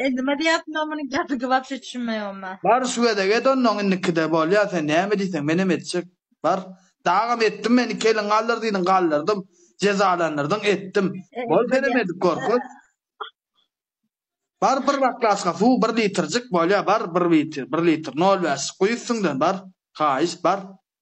E nima diýýärsiňda muny gazygy wapşe düşünmeýogym men. Bar şu gezek et onnoň indikide bolýa sen näme diýseň menem etjek bar dagam etdim men iki eliň galdyr diýdiň galdyrdym jezalandyrdyň etdim bol senem edip gör köz. Bar bir baklaçka suw bir litrjik bolýa bar bir litr nol bäşlik guý üstüňden bar haýyşt bar.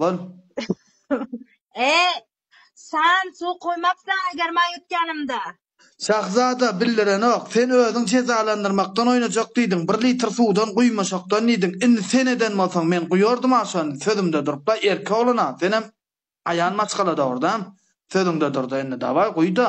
Lan. E, Sen suw koymapsan eger maý ötkenimde. Şahzada bildirenok, sen özüň jezalandyrmakdan oýnajak diýdiň, bir litr suwdan guýmaşakdan diýdiň, indi sen eden bolsaň men guýardym-a şony, sözümde durup-la, erkek oglan-a, senem aýan maşgala dogry-da, sözüňde dur-da indi, dawaý, guý-da.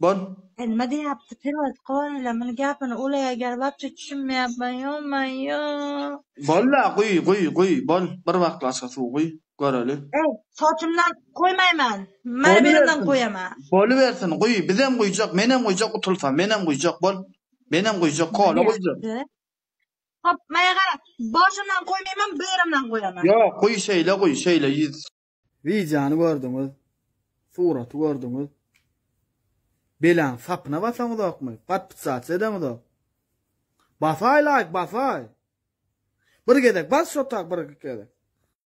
Bol. Elime diyapti pirot goyla muny gapini ula eger wapşe tüşinmeyapman yo mayo. Bol la guy guy guy bol bir baklaşka suw guy göreli. Ey soçumdan guýmaýman mana berimden guýama. Bolubersin guý bizem guýjak menem guýjak utulsam menem guýjak bol menem guýjak kola guýjak. Hop maýa gara boşumdan guýmaýman berimden guýaman. Ýok guý şeýle guý şeýle ýüz. Wideony gördüňiz, suraty gördüňiz. Belaň sapyna basaňyzokmy? Podpisat edeňizok. Basaý laýk, basaý. Bir gezek bas şo tak bir gezek.